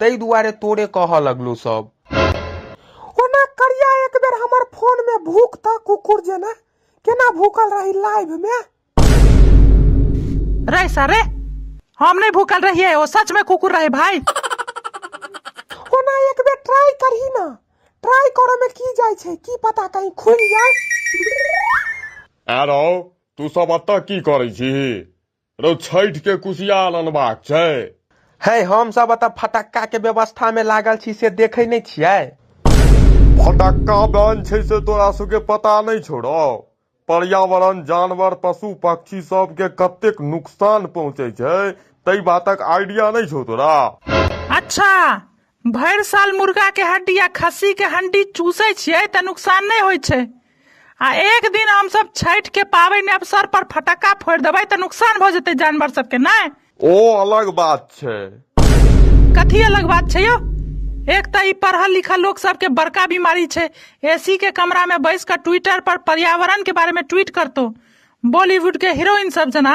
ताहि दुआरे तोरे कहऽ लगलौ सब ओना करिया एक बेर हमर फोन में भूख त कुकुर जेना केना भूखल रही लाइव में रे सर रे हम नहीं भूखल रहिए वो सच में कुकुर रहे भाई ओना एक बेर ट्राई करही ना ट्राई करे में की जाय छै की पता कहीं खुल जाय आरो तू सब अतऽ की करै छी रौ छठि के कुशियार अनबाक छै है हम सब एतऽ फटक्का के व्यवस्था में लागल छी से देखे नहीं छियै फटक्का बन छै से तोरा सबके पता नहीं छोड़ो पर्यावरण जानवर पशु पक्षी सबके कतेक नुकसान पहुंचे छै तई बातक आइडिया नहीं छौ तोरा अच्छा भरि साल मुर्गा के हड्डी आ खस्सी के हड्डी चूसै छियै तऽ नुकसान नहि होइ छै आ एक दिन हमसब छठि के पाबनि अवसर पर फटक्का फोड़ि देबै तऽ नुकसान भऽ जेतै जानवर सबके नहि ओ अलग बात छै कथी अलग बात छै यौ एक तऽ ई पढ़ल लिखल लोग सबके बड़का बीमारी छै एसी के कमरा में बैस कऽ ट्विटर पर पर्यावरण के बारे में ट्वीट करतो बॉलीवुड के हीरोइन सब जना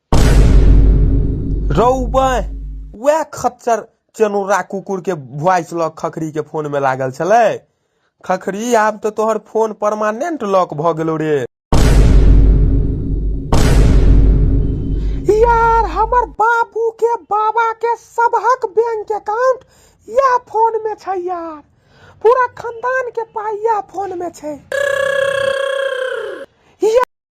रौ बाँय वएह खच्चर चेनुरा कुकुर के वॉइस लॉक खखरी के फोन में लागल छले खखरी आब तो तोहर फोन परमानेंट लॉक भ गेलो रे यार हमर बाबू के बाबा के सबहक बैंक अकाउंट या फोन में छै यार पूरा खानदान के पाई या फोन में छै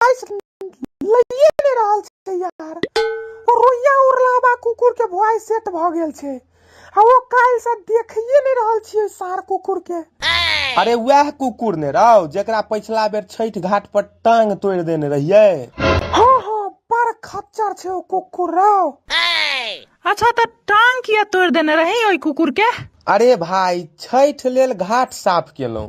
गाइस लइए ले रहल छै यार ओ रोइया उरलाबा कुकुर के वॉइस सेट भ गेल छै आ ओ काल से देखिए नहीं रहल छिए सार कुकुर के अरे वह कुकुर ने राव जेकरा पिछला बेर छठ घाट पर टांग तोड़ देने रहिए हां हां पर खच्चर छै ओ कुकुर राव अच्छा तो टांग किया तोड़ देने रही ओई कुकुर के अरे भाई छठ लेल घाट साफ केलौं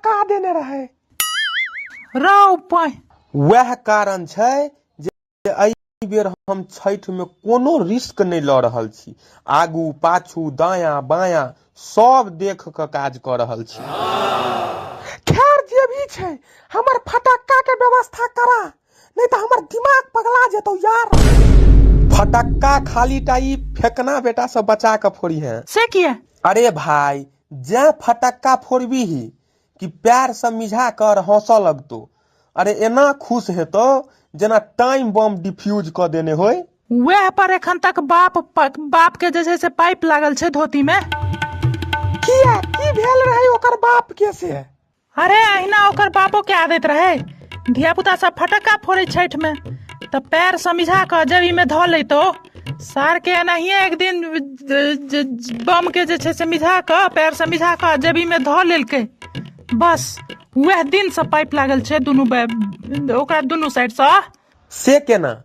कहा देने रहे राव पाय वह कारण छै जे अई बेर हम छठ में कोनो रिस्क नहीं ल रहल छी आगू पाछू दाया बाया सब देख के काज कर रहल छी खैर जे भी छै हमर फटक्का के व्यवस्था करा नहीं तो हमर दिमाग पगला जेतो यार फटक्का खाली टाई फेकना बेटा से बचा के फोड़ी है से किया अरे भाई जैं फटक्का फोड़बीही कि पैर से मिझा कर हंसऽ लगतो अरे एना खुश हेतो जेना टाइम बम डिफ्यूज क देने होय वएह पर एखन तक बाप बाप के जे छै से पाइप लागल छै धोती में किया की भेल रहे ओकर बाप के से अरे अहिना ओकर बापो के आदत रहे धियापुता सब फटक्का फोड़े छठि में तऽ पैर समझा कऽ जब इमे धऽ लैतो सार के एनाहिए एक दिन ज- ज- ज- बम के जे छै से मिझा कऽ पैर समझा कऽ जेबी में धऽ लेलकै बस वएह दिन से पाइप लागल छै दुनू बै- ओकरा दुनू साइड से से केना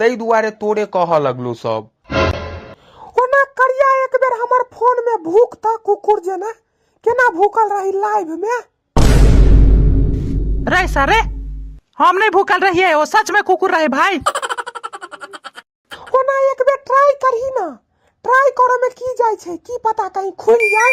ताहि दुआरे तोरे कहऽ लगलो सब ओना करिया एक बेर हमर फोन में भूख त कुकुर जेना केना भूखल रही लाइव में रे सरे हम नहीं भूखल रहिए वो सच में कुकुर रहे भाई ओना एक बेर ट्राई करही ना ट्राई करे में की जाय छै की पता कहीं खुल जाय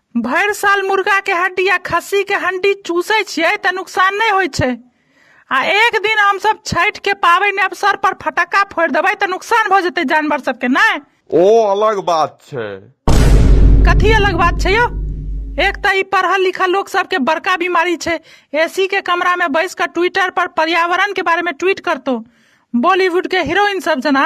भरि साल मुर्गा के हड्डी आ खस्सी के हड्डी चूसै छियै तऽ नुकसान नहि होइ छै आ एक दिन हमसब छठि के पाबनि अवसर पर फटक्का फोड़ि देबै तऽ नुकसान भऽ जेतै जानवर सबके नहि ओ अलग बात छै कथी अलग बात छै यौ एक तऽ ई पढ़ल लिखल लोग सबके बड़का बीमारी छै एसी के कमरा में बैस कऽ ट्विटर पर पर्यावरण के बारे में ट्वीट करतो बॉलीवुड के हीरोइन सब जना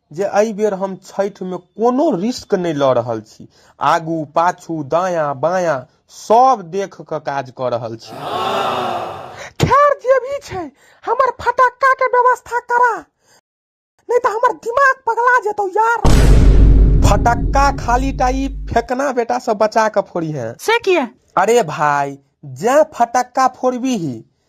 जे एहि बेर हम छठि मे कोनो रिस्क नहि ल रहल छी। आगू, पाछू, दायाँ, बायाँ सब देख क काज क रहल छी। खैर जे भी छै, हमर फटक्का के व्यवस्था करा, नहि त हमर दिमाग पगला जेतौ यार। फटक्का खाली टा ई फेकना बेटा सँ बचा क फोड़िहें। से किए? अरे भाई, जैं फटक्का फोड़बिही,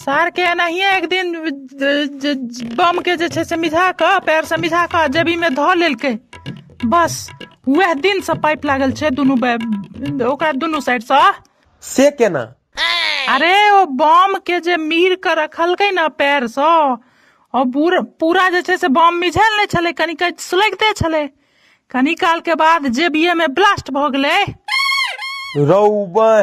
सारकेँ एनाहिए एक दिन जे बमकेँ जे छै से मिझा कऽ पएरसँ मिझा कऽ जेबीमे धऽ लेलकै बस उएह दिनसँ पाइप लागल छै दुनू बै- ओकरा दुनू साइडसँ से केना अरे ओ बम के जे मीर के रखलकै ने पैर से ओ पूरा पूरा जे छै से बम मिझल नहि छलै कनि कनि सुलगिते छलै कनि काल के बाद जेबिये में ब्लास्ट भऽ गेलै रौबह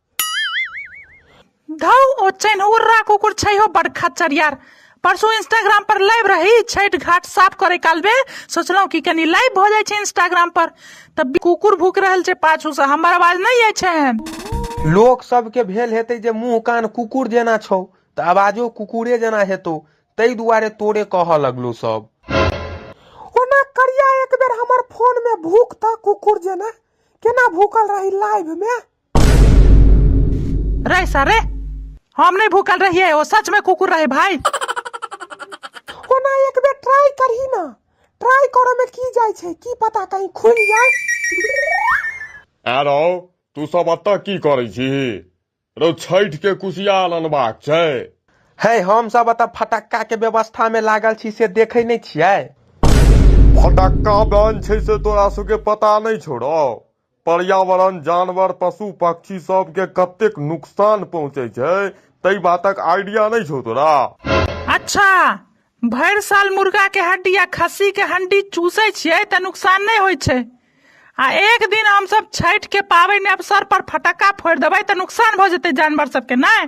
घाउ ओ चैन उर्रा कुकुर छै हो बड़ खच्चर यार परसू इंस्टाग्राम पर लाइव रही छठ घाट साफ करे काल में सोचलहुँ कि कनी लाइव भऽ जाइ छै इंस्टाग्राम पर तब कुकुर भूक रहल छै पाछू से हमर आवाज नहीं आय छै लोक सबके भेल हेतै जे मुँह कान कुकुर जेना छौ तऽ आवाजो कुकुरे जेना हेतौ ताहि दुआरे तोरे कहऽ लगलो सब ओना करिया एक बेर हमर फोन में भूख तऽ कुकुर जेना केना भूकल रही लाइव में रे सारे हम नहीं भूखल रहिए वो सच में कुकुर रहे भाई ओना एक बेर ट्राई करही ना ट्राई करे में की जाय छै की पता कहीं खुल जाय आरो तू सब एतऽ की करै छी रौ छठि के कुशियार अनबाक छै है हम सब एतऽ फटक्का के व्यवस्था में लागल छी से देखे नहीं छियै फटक्का बन छै से तोरा सबके पता नहि छौ रौ पर्यावरण जानवर पशु पक्षी सबके कतेक नुकसान पहुँचै छै तै बातक आइडिया नहि छौ तोरा अच्छा भरि साल मुर्गा के हड्डी आ खस्सी के हड्डी चूसै छियै तऽ नुकसान नहि होइ छै आ एक दिन हमसब छठि के पाबनि अवसर पर फटक्का फोड़ि देबै तऽ नुकसान भऽ जेतै जानवर सबके नहि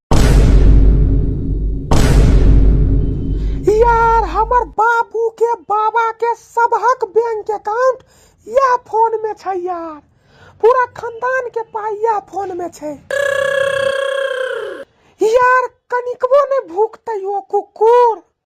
यार हमर बाबू के बाबा के सबहक बैंक अकाउंट या फोन में छै यार पूरा खानदान के पाई या फोन में छै यार कनिकबो ने भूखते ओ कुकुर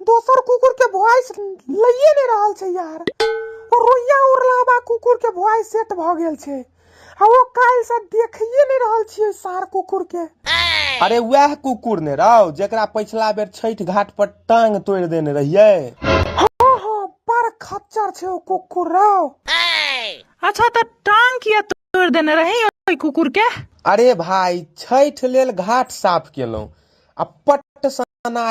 दोसर कुकुर के वॉइस लइए नहीं रहल छै यार ओ रोइया उड़लाबा कुकुर के वॉइस सेट भ गेल छै आ ओ काल से देखिए नहीं रहल छियै सार कुकुर के अरे वह कुकुर ने रहो जेकरा पिछला बेर छठ घाट पर टांग तोड़ देने रहिए हाँ हाँ बड़ खच्चर छै ओ कुकुर रहो अच्छा तो टांग किया तोड़ देने रही ओहि कुकुर के अरे भाई छठ लेल घाट साफ केलहुँ आ पट सना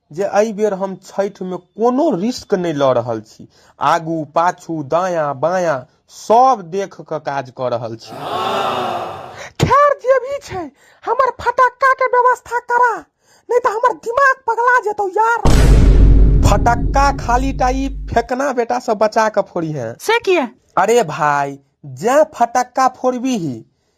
जे एहि बेर हम छठि मे कोनो रिस्क नहि लऽ रहल छी। आगू, पाछू, दायाँ, बायाँ सब देख कऽ काज कऽ रहल छी। खैर जे भी छै, हमर फटक्का के व्यवस्था करा, नहि तऽ हमर दिमाग पगला जेतौ यार। फटक्का खाली टा ई फेकना बेटा सँ बचा कऽ फोड़िहें। से किए? अरे भाय, जैं फटक्का फोड़बिही,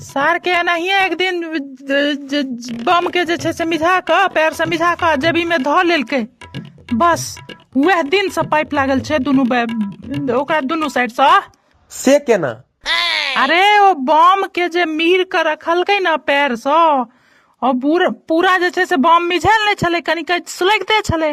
सारकेँ एनाहिए एक दिन जे बमकेँ जे छै से मिझा कऽ पएरसँ मिझा कऽ जेबीमे धऽ लेलकै बस उएह दिनसँ पाइप लागल छै दुनू बै- ओकरा दुनू साइडसँ से केना अरे ओ बम के जे मीर के रखलकै ने पैर सँ ओ पूरा पूरा जे छै से बम मिझायल नहि छलै कनिक सुलगिते छलै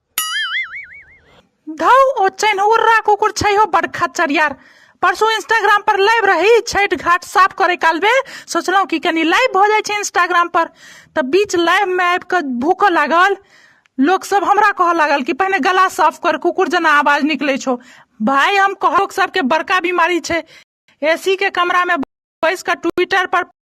घाव ओ चैनहुर्रा कुकुर छै हो बड़ खचरियार परसू इंस्टाग्राम पर लाइव रही छठ घाट साफ करे काल में सोचलहुँ कि कनी लाइव हो जाए इंस्टाग्राम पर तो बीच लाइव में आबि कऽ भूकऽ लागल लोक सब हमरा कहऽ लागल कि पहिने गला साफ कर कुकुर जना आवाज निकले छो भाई हम कहब सबके बड़का बीमारी छै एसी के कमरा में बैस कऽ ट्विटर पर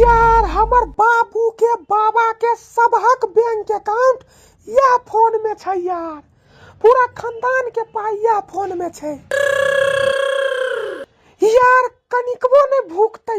यार हमर बाबू के बाबा के सबहक बैंक अकाउंट या फोन में छै यार पूरा खानदान के पाई या फोन में छै यार कनिकबो ने भूखते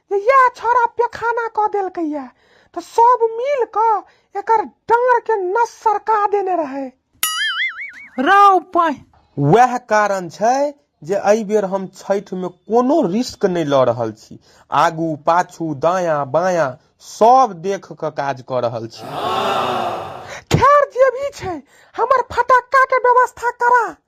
जे इएह छोरा पेखाना कऽ देलकै यए तऽ सब मिल कऽ एकर डाँड़ के नस सरका देने रहै रौ पाइ वएह कारण छै जे एहि बेर हम छठि में कोनो रिस्क नहि लऽ रहल छी आगू पाछू दायां बायां सब देख कऽ काज कऽ रहल छी खैर जे भी छै हमर फटक्का के व्यवस्था करा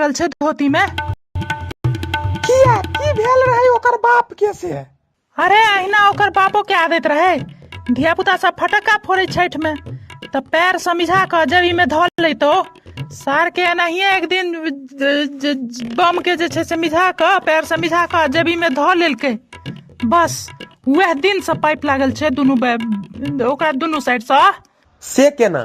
रहल छै धोती में किया की भेल रहे ओकर बाप के से अरे अहिना ओकर बापो के आदत रहे धिया पुता सब फटक्का फोड़े छठ में तऽ पैर समझा कऽ जबी में धऽ लैतो सार के एनाहिए एक दिन ज- ज- ज- बम के जे छै से मिझा कऽ पैर समझा कऽ जबी में धऽ लेलकै बस वएह दिन से पाइप लागल छै दुनू बै- ओकरा दुनू साइड से से केना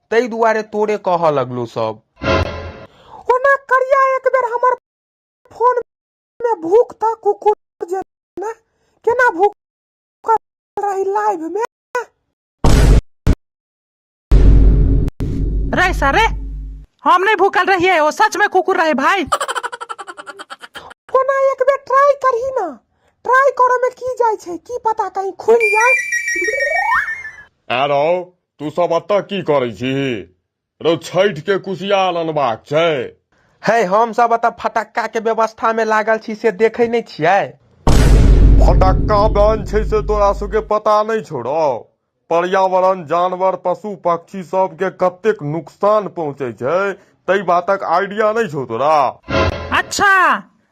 ताहि दुआरे तोरे कह लगलू सब ओना करिया एक बेर हमर फोन में भूख था कुकुर जे ना केना भूख रही लाइव में रे सरे हम नहीं भूखल रहिए वो सच में कुकुर रहे भाई ओना एक बेर ट्राई करही ना ट्राई करो में की जाय छे की पता कहीं खुल जाए At all. तू सब एतऽ की करै छी रौ छठि के कुशियार अनबाक छै है हम सब एतऽ फटक्का के व्यवस्था में लागल छी से देखे नहीं छियै फटक्का बन छै से तोरा सबके पता नहीं छोड़ो पर्यावरण जानवर पशु पक्षी सबके कतेक नुकसान पहुंचे छै तई बातक आइडिया नहीं छौ तोरा अच्छा